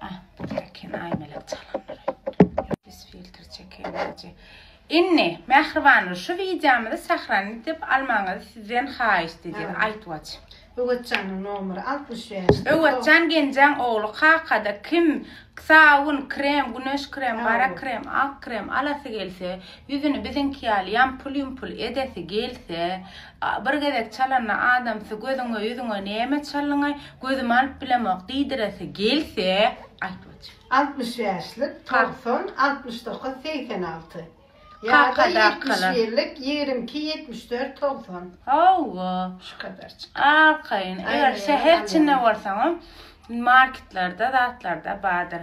Ah, çeken aýmelek çalanlar öýtdi. Biz filtr çekeýmeli. Indi, mähribanlar, şu wideomyzy sahrany edip almagyňyzy sizden haýyşt edýän, Aýtwaç. Öwezjanyň nomeri altmyş bäş. Öwezjan Genjaň ogly kakada kim sabun, krem, güneş krem, gara krem, ak krem alasy gelse, ýüzüni biziňki ýaly ýampul-ýumpul edesi gelse, Bir gezek çalanda adamsy gözüňe, ýüzüňe näme çalyňaý, gözüm alyp bilemok diýdiresi gelse, aýt wajy. Altmyş bäşlik, togsan, altmyş dokuz, segsen alty. Ýa-da ýetmiş birlik, ýigrimi iki, ýetmiş dört, togsan. Hawa. Şu kadar çykyp. Arkaýyn. Eger şäher içinde bolsaňam, marketlerde, zatlarda bardyr.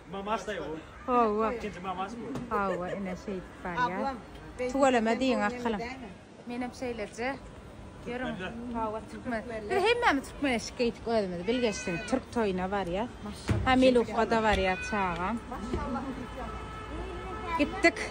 Mamaşdaý bu. Hawa. Ikinji mamaş bu. Hawa, ine şeýdip barýar. Tüweleme diýiň arkalyň. Menem şeýleje. Ýörüň. Hawa, türkmen. Biz hemmämiz türkmenleşdik geýdik özümiz bilgeşleň. Türk toýuna barýas. Hamiluka-da barýar çagam. Gitdik.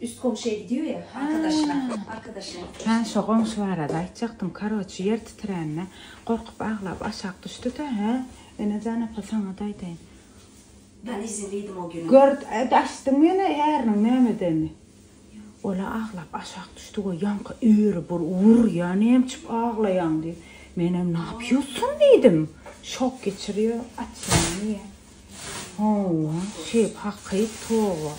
Üst goňşyya gidiyor ya arkadaşyna arkadaşyna gitmişdi. Hä şo goňşy barada aýtjakdym karoçi ýer titrände gorkup aglap aşak düşdüdä hä Enejan apa saňada aýdaýyn. Ben izin diýdim o güni. Gör açdyňmy ýene äriniň nämedenini. Ola aglap aşak düşdi we ýaňky öri bir wur ýa nemçip aglaýaň diýip menem napýussam diýdim şok geçirýo açýaňmy ýa. Hawa, şeýp haky, toba.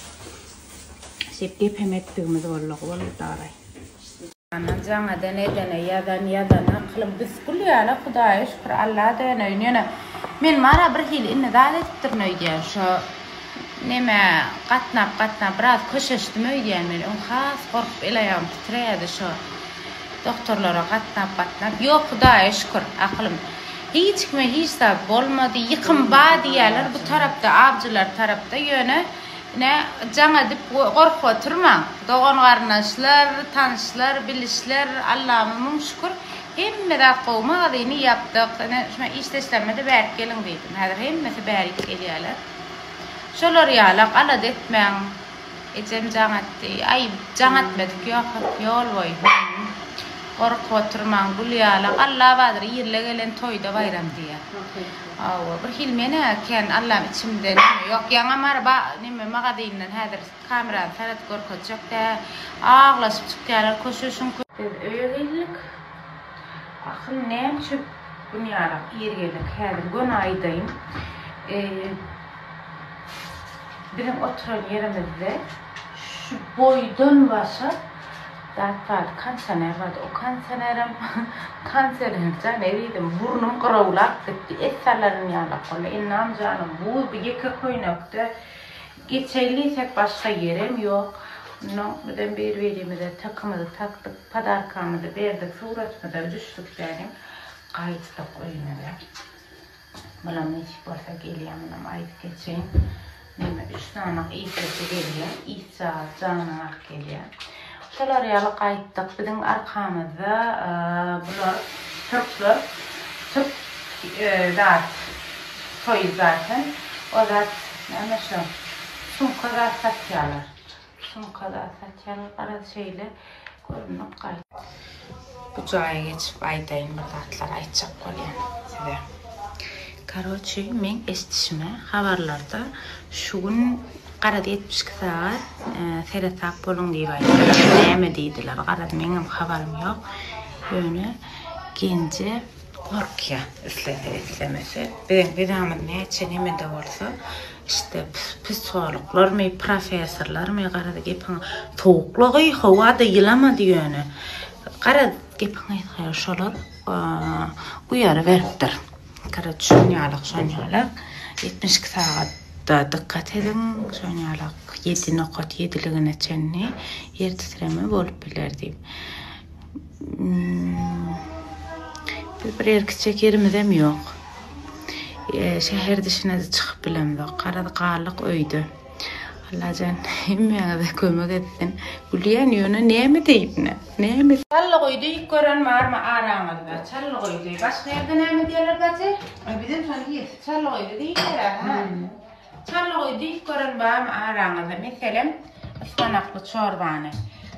Şeýp gep hem etdigimiz bolak boldy daraý. Ana jaňadan edene ýazan ýazan akylyň düsgül ýaly hudaýa şükür Alla döneýin ýöne men mara bir hili indi zat edipdirin öýdýän şo nemä gatnap gatnap biraz köşeşdim öýdýän men öň has gorkup el aýagym titreýädi şo Doktorlara gatnap gatnap ýok hudaýa şükür akylym hiç kime hiç zat bolmady ýykym ba diýýäler bu tarapda awjylar tarapda ýöne ine jaň edip gorkup oturmaň dogan garyndaşlar tanyşlar bilişler Allama müň şükür hemme zat gowy magazyny ýapdyk ine şuna işdeşlermede bärik geliň diýdim häzir hemmesi bärik gelýäler şolar ýalak alada etmäň. Ejem jaň atdy. Aý, jaň atmedik, ýogsam ýol boýy hümm, gorup oturmaň, gül ýala, Allabadyr irle gelen toýda baýram diýýä. Hawa, birhili men-ä kän, Allam, içimde näme, ýok, ýaňa Mary ba, neme, magazyndan häzir kamerany sarat görkezjek-dä, aglaşyp çykýarlar, köşe şuň kö. Biz öýe geldik. Ahym, näme üçin gün ýarak ir geldik, häzir göni aýdaýyn. Eý. Biziň oturan ýerimizde şu boýdan başa zat bardy, konsioner bardy. O konsionerem konsionerjan eridim. Burnum gyrawlap gitdi. Et salaryn ýalak boldy. Ennam janym buz, bu ýeke köýnekde geçeýin diýsek başga ýerem ýok. Onnoň bizem bir-birimize takymyzy takdyk, podarkamyzy berdik, suratymyzam düşdük däniň. Gaýtdyk öýmüze. Muna nesip bolsa gelýän munam aýdyp geçeýin. Mende üç sanak işlese gelýär. Işjagaz janyňy alyp gelýär. Şolar ýaly gaýtdyk. Biziň arkamyzda bular türkler türk zat toýy zaten. O zat näme şu sumka zat satýarlar. Sumkalar satýarlar. Garaz şeýle görnük gaýt. Bu jaýa geçip aýdaýyn bir zatlar aýtjak bolýan size. Karoçi meň eşdişime habarlarda şu gün garaz ýetmiş iki sagat seresap boluň diýip aýdylar. Näme diýdiler garaz meňem habarym ýok. Ýöne Genje Gorkýar, islese, islemese. Biziň bidamyz näçe neme-de bolsa, işte, psihologlarmy, professorlarmy, garaz, gepiň sowuklygy, howa-da ýylamady ýöne. Garaz, gepiň gysga, şolar uýary beripdir. Karaç, şonýalak, şonýalak, ýetmiş iki sagat dykgat ediň, şonýalak ýedi nokat ýediligine çenli ýer titreme bolup biler diýip. Biz bir ýer gitjek ýerimizem ýok. Şäher dişine-de çykyp bilemzok. Garaz galdyk öýde. Allajan hemmäňize kömek etsin. Gülýän ýöne näme diýip ne? Näme? Çallygy diýip gören barmy araňyzda? Çallygy diýip. Başga ýerde näme diýerler bajy? Bizem şony diýeris. Çallygy diýip göräýmäň. Çarlygy diýip gören barmy araňyzda? Meselem, yspanakly çorbany.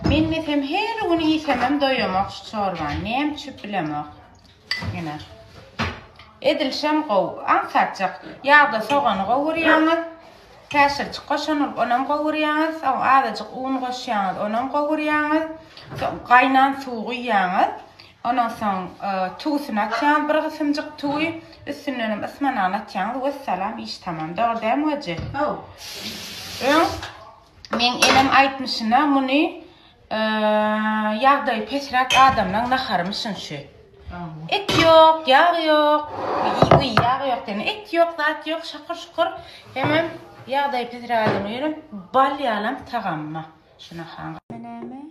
Men mesem her gün iýsemem doýamok şu çorbany. Näme üçin bilemok. Ýene. Edilşem gowy. Aňsatjak. Ýagda sogany gowurýaňyz. Käşirçik goşan bolup, onam gowurýaňyz. Soň azajyk un goşýaňyz, onam gowurýaňyz. Soň gaýnan suw guýýaňyz. Ondan soň tüwüsini atýaňyz bir gysymjyk tüwi, üstündenem ysmanagyny atýaňyz wessalam iş tamam. Dogry dälmi Hajy? Haw. Öň meň enem aýtmyşyna muny ýagdaýy pesräk adamlaň naharymyşyn şu. Et ýok, ýag ýok, iý ýag ýok diýen et ýok zat ýok şakyr şukur hemem ýagdaýy pesräk adamlaň ýöne bal ýalam tagamma şu naharyň.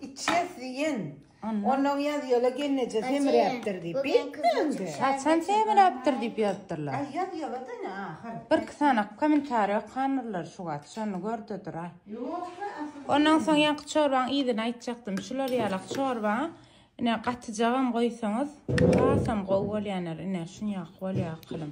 Içýäs diýen. Ondan ýazýola genneje semiräpdir diýip. Beýtmände. Haçan semiräpdir diýip ýazypdyrlar. Aý ýazýola da ine ahyr. Bir iki sany kommentariýa okandyrlar şu wagt. Şony gördedir aý. Ondan soň ýaňky çorbaň yzyny aýtjakdym. Şular ýalak çorba. Ine gatyjagam goýsaňyz hasam gowy bolýaner. Ine şunýak bolýa akylym.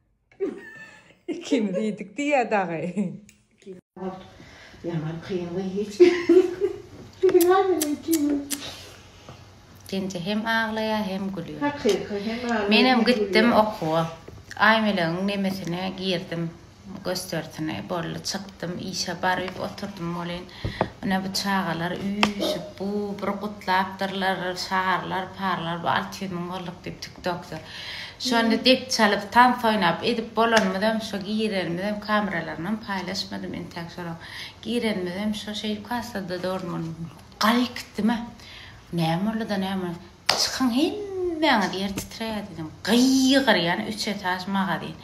Kim diýdik diýýä dagy. Ýaman kyn we hiç Genje hem aglaýar, hem gülýär. Hakyky hem aglaýar. Menem gitdim okuwa. Aýmelegiň nemesine girdim, gösterisine. Boldy, çykdym, işe baryp oturdym welin, Ine bu çagalar üýşüp bu bir gutlapdyrlar şarlar parlar bu alty ýüz müň bolduk diýip tiktokda. Şonda dep çalyp tans oýnap edip bolanymyzam şo girenimizem kameralaryny paýlaşmadym entäk şolar girenimizem şo şeýdip hassada dogry gal gitdimä näme bolduda näme. Çykyň hemmäňiz ýer titrädidiň gygyrýan üç etaž magazin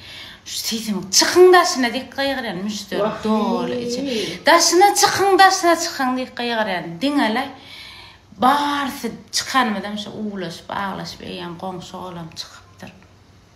şu sesiň çykyň daşyna dik gygyrýan müşderi doly içi daşyna çykyň daşyna çykyň diýip gygyrýan diňele barsy çykanymyzam şu uwlaşyp aglaşyp eýýäm goňşy olam çykypdyr.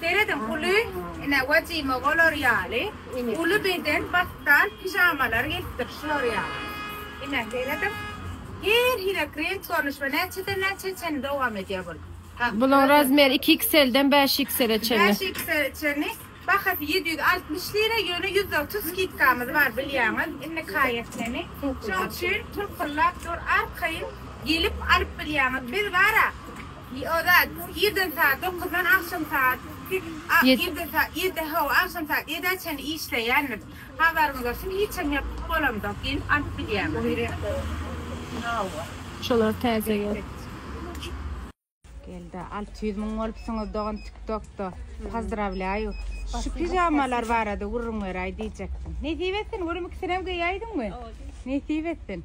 Serediň, uly, ine, wajima bolar ýaly, uly beden battal pijamalar gelipdir, şular ýaly. Ine, serediň, her hili krent görnüş we näçeden-näçä çenli dowam edýär bul. Bulaň razmeri iki XL-den bäş XL-e çenli. Bäş XL-e çenli. Bahasy ýedi ýüz altmyş lira, ýöne ýüz otuz skidkamyz bar, bilýäňiz, indi kaýesini. Şoň üçin tyrkyllap dur, arkaýyn gelip alyp bilýäňiz. Biz bara. Ozat, irden saat dokuzdan agşam saat ýedä ýedä hawa, agşam saat ýedä çenli işleýändim. Habaryňyz bolsun, hiçem ýapyk bolamzok, gelip alyp gidýäňiz. Şolar täze ýok. Gelda alty ýüz müň bolupsyňyz dogan tiktokda pozdrawlýaýu şu pijamalar barada gürrüň beräý diýjekdim nesip etsin görüm ikisinem geýäýdiňmi nesip etsin.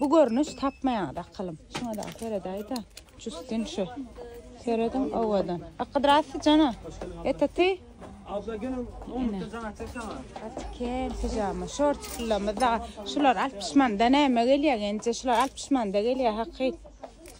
Bu görnüş tapmaýaňyz akylym. Şuna da seredäýda. Justin şu. Serediň owadan. Akydras jana. Eta ty. Abla gel onu da jana çeksana. Atken pijama. Şort şulamyz da. Şular 60 manda näme gelýär? Ence şular 60 manda gelýär hakyt.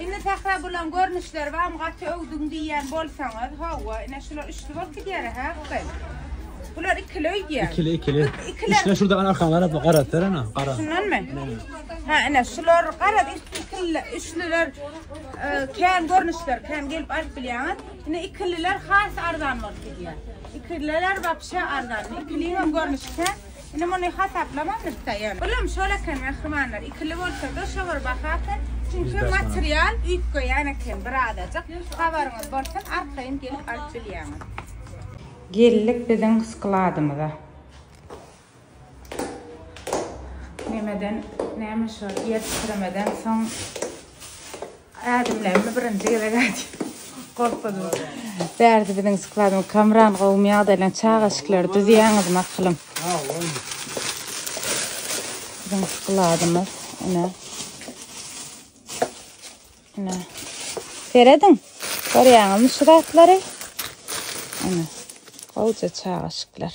Indi Sähra bulan görnüşleri bam gaty öwdüň diýýän bolsaňyz howwa ine şular üçli bolup gidýära hä gyz. Bular ikili öýdýä. Ikili ikili. Ikili. Üçle şurada ana arkan garap garap ver ana. Garap. Şundanmy? Ha ine şular garap ikili üçlüler e, kän görnüşler kän gelip alyp bilýäňiz. Ine ikililer has arzan bolup gidýär. Ikililer wapşe arzan. Ikiliň hem görnüşi kän. Indi muny hasaplamamyzka ýöne. Bulam şol eken mähribanlar ikili bolsada şolar bahasy çünki material üýtgeýän eken birazajyk habaryňyz bolsun arkaýyn gelip alyp bilýäňiz. Geldik biziň skladymyza. Nämeden näme şo ýer titremeden soň. Ädimlerimi birinji gezek aýdýan. Gorkuzmaz. Bärde biziň skladyň Kamran gowumy ýagdaýlaň çaga şikleri düzýäňiz maklym. Biziň skladymyz ine. Ine. Serediň. Görýäňizmi şu zatlary? Ine. Gowja çaga şikler.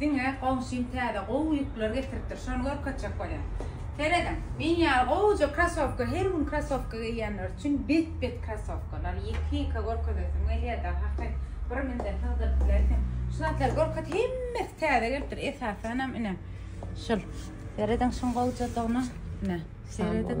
Diňe goňşym täze gowy ýükler getiripdir, şony görkezjek bolýan. Serediň, men ýaly gowuja krasowka, her gün krasowka geýýänler üçin bet-bet krasowkalar, ýeke-ýeke görkezesim gelýär-de, haky, bir münden sygdyryp bilersiň. Şu zatlary görkez, hemmesi täze gelipdir, esasanam, ine, şul. Serediň şuň gowujadygyna, ine, serediň.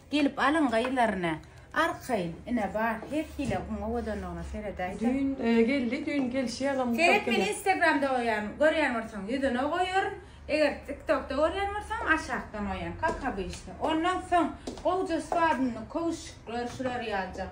Gelip alyň gyzlaryny. Arkaýyn, ine bar, her hile gün owadanlygyna seredäýse. Düýn geldi, düýn gelşi ýalam gutap Seret meni instagramda goýan, görýän bolsaň ýüzüne goýaryn, eger tiktokda görýän bolsaň aşakdan goýaryn, kak obişde. Ondan soň gowja swabyny, köwşükler şular ýaljak.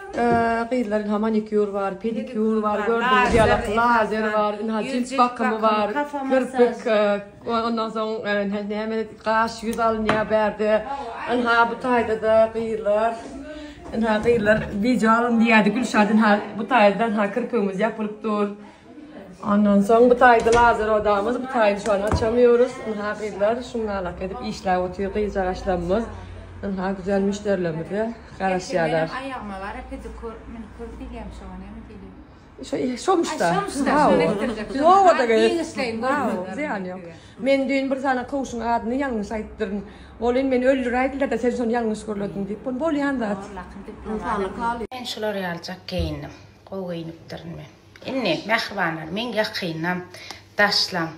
Gyzlaryň ha manikýur bar, pedikýur bar, gördüňiz ýaly lazer bar, ynha jilt bakymy bar, kirpik, ondan soň näme gaş, ýüz alynýar bärde. Ynha bu taýda-da gyzlar, ynha gyzlar wideo alyn diýýärdi Gülşat, ynha bu taýda-da ynha kirpigimiz ýapylyp dur. Ondan soň bu taýda lazer odamyz, bu taýda şu an açamýorys. Ynha gyzlar şuňňalak edip işläp otyr gyzjagaşlarymyz. Ynha güzel müşderilerimize garaşýarlar. Aýagyma gara pedikur, minikur diýýämi şoňa näme diýilýär? Şo şomuşda. Şomuşda. Howada geýişleýin. Zyýany ýok. Men düýn bir sany kowşuň adyny ýalňyş aýtdyryn. Bolýan meni öldüräýdiler-de sen şony ýalňyş gürlediň diýip. Bolýan zat. Men şular ýaljak geýindim. Gowy geýinipdirin men. Indi mähribanlar meň ýakynam, daşlam.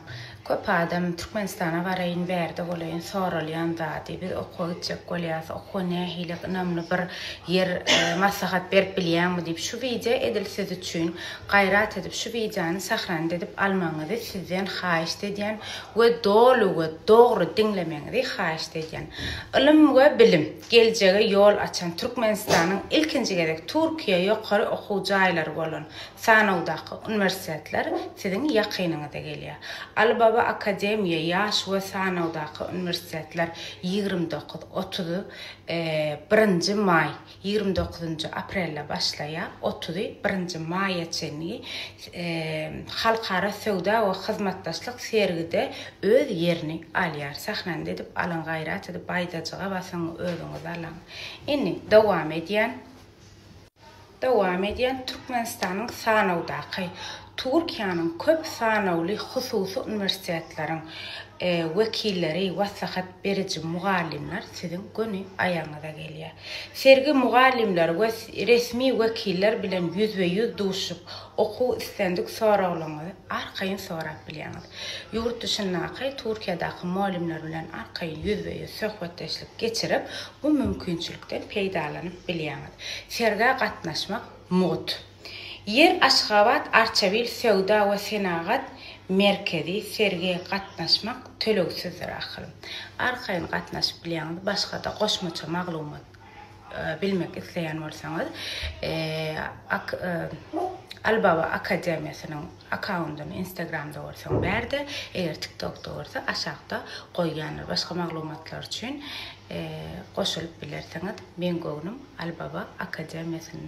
Köp adam Türkmenistana baraýyn, bärde bolaýyn soralýan zady. Biz okuwa gitjek bolýarys, okuwa nähili ynamly bir ýer maslahat berip bilýäňmi diýip şu wideo edil siz üçin. Gaýrat edip şu wideony sahranda edip almagyňyzy sizden haýyşt edýän we doly we dogry diňlemegiňizi haýyşt edýän. Ylym we bilim. Geljege ýol açan Türkmenistanyň ilkinji gezek Türkiýe ýokary okuw jaýlary bolan sanawdaky uniwersitetler siziň ýakynyňyza gelýär. Alibaba Akademiýa ýaş we sanawdaky uniwersitetler ýigrimi dokuz, otuz, birinji maý, ýigrimi dokuzynjy aprelde başlaýar, otuzy birinji maýa çenli Halkara söwda we hyzmatdaşlyk sergide Öz ýerini alýar sahnany edip alyň gaýrat edip baýdajyga basyň özüňiz alaň indi dowam edýän dowam edýän Türkmenistanyň sanawdaky Turkiýanyň köp sanawly hususy uniwersitetleriň wekilleri waslahat beriji mugallymlar siziň göni aýagyňyza gelýär sergi mugallymlar we resmi wekiller bilen ýüzbe ýüz duşup Okuw islendik soraglaryňyzy arkaýyn sorap bilýäňiz. Ýurt dyşyndaky, Türkiýedäki mugallymlar bilen arkaýyn ýüzbe-ýüz söhbetdeşlik geçirip, bu mümkinçilikden peýdalanyp bilýäňiz. Sergä gatnaşmak mugt. Ýer Aşgabat Arçabil söwda we senagat merkezi sergä gatnaşmak tölegsizdir ahyryn. Arkaýyn gatnaşyp bilýäňiz, başga-da goşmaça maglumat. Bilmek isleýän bolsaňyz, ak Alibaba akademiýasynyň akkaundyny instagramda bolsaň bärde, eger tiktokda bolsa aşakda goýýandyr. Başga maglumatlar üçin goşulyp bilersiňiz. Meň göwnüm Alibaba akademiýasynda.